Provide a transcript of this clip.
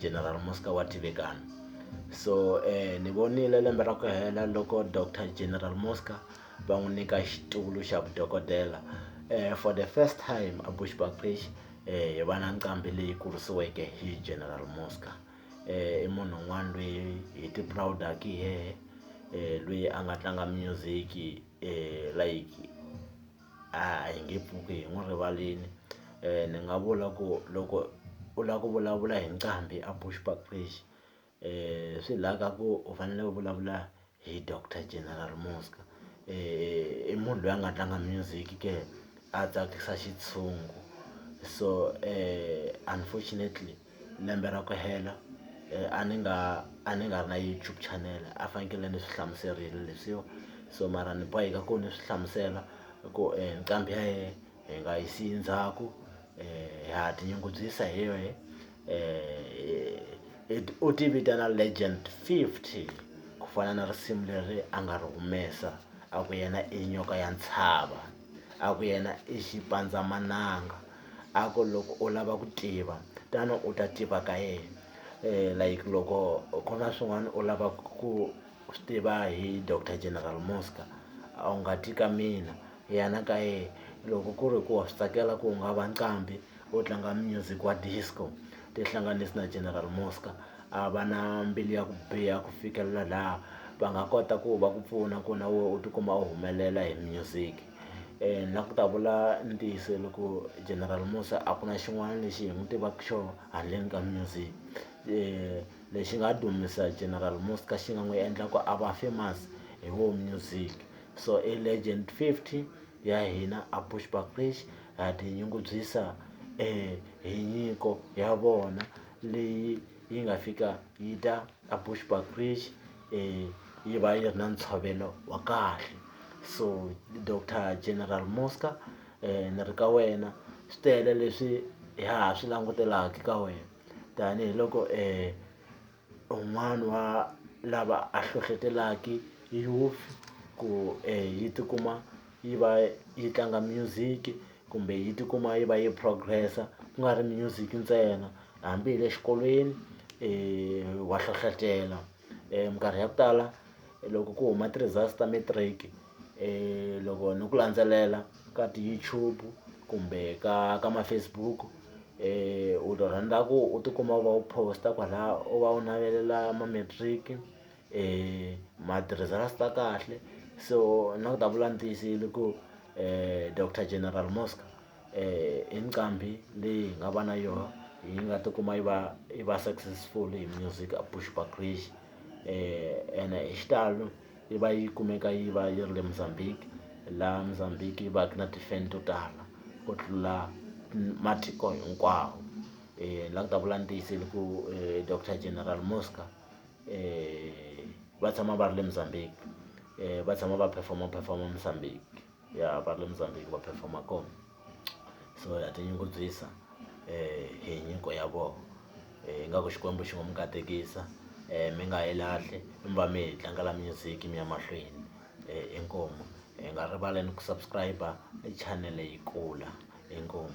General Muska wa Tivikana so ni vonile lembe ra ku hela loko Doctor General Muska va n'wi nyika xitulu xa vudokodela for the first time a Bushbuckridge hi va na nqambi leyi kurisiweke hi General Muska i munhu un'wana loyi hi ti proud-aka hi yena loyi a nga tlanga music like. a hi nge pfuki hi n'wi rivalini ni nga vula ku loko u lava ku vulavula hi nqambi a Bushbuckridge swi la ka ku u fanele u vulavula hi doctor General Muzka i munhu loyi a nga tlanga music ke a tsakisa xitshungu so unfortunately. lembe ra ku hela a ni nga a ni nga ri na YouTube channel a fanekele ni swi hlamuserile leswiwa so mara ni boheka ku ni swi hlamusela ku nqambi ya hina hi nga yi siyi ndzhaku ha tinyungubyisa hi yoho u ti vitana Legend fifty ku fana na risimu leri a nga ri humesa a ku yena i nyoka ya ntshava a ku yena i xipandzamananga. a ku loko u lava ku tiva tano u ta tiva ka yena like loko ku na swin'wana u lava ku swi tiva hi doctor general Muzka a wu nga ti ka mina yana ka yena loko ku ri ku wa swi tsakela ku nga va nqambi u tlanga music wa disco tihlanganisi na general Muzka a va na mbilu ya ku biha ku fikelela laha va nga kota ku va ku pfuna ku na wena u tikuma u humelela hi music. na ku ta vula ntiyiso loko general Musa a ku na xin'wana lexi hi n'wi tivaka xona handleni ka music lexi nga dumisa general Musa ka xi nga n'wi endla ku a va famous hi wo music so i legend fifty ya hina a Bushbuckridge ha tinyungubyisa hi nyiko ya vona leyi yi nga fika yi ta a Bushbuckridge. yi va yi ri na ntshovelo wa kahle so doctor general Muzka ni ri ka wena swi tele leswi hi ha swi langutelaka ka wena tanihiloko un'wana wa lava a hlohlotelaka youth ku yi tikuma yi va yi tlanga music kumbe yi tikuma yi va yi progress-a ku nga ri music ntsena hambi hi le xikolweni wa hlohlotela minkarhi ya ku tala loko ku huma ti-results ta matric loko ni ku landzelela ka ti-YouTube kumbe ka ka ma-Facebook u rhandza ku u tikuma u va u post-a kwalaya u va u navelela ma-matric. matirhiselo a swi ta kahle so na ku ta vula ni tiyisile ku doctor general Muzka i nqambi leyi hi nga va na yoho yi nga tikuma yi va yi va successful hi music a Bushbuckridge ene hi xitalo yi va yi kumeka yi va yi ri le Mozambique laha Mozambique yi va ka na ti-fan to tala ku tlula matiko hinkwawo la ni ku ta vula ni tiyisile ku doctor general Muzka. va tshama va ri le Mozambique va tshama va perform-a perform-a Mozambique ya va ri le Mozambique va perform-a kona so ha tinyungubyisa hi nyiko ya vona ingaku Xikwembu xi ngo mi katekisa mi nga yi lahli mi va mi hi tlangela music mi ya mahlweni inkomu hi nga rivali ni ku subscribe channel yi kula inkomu.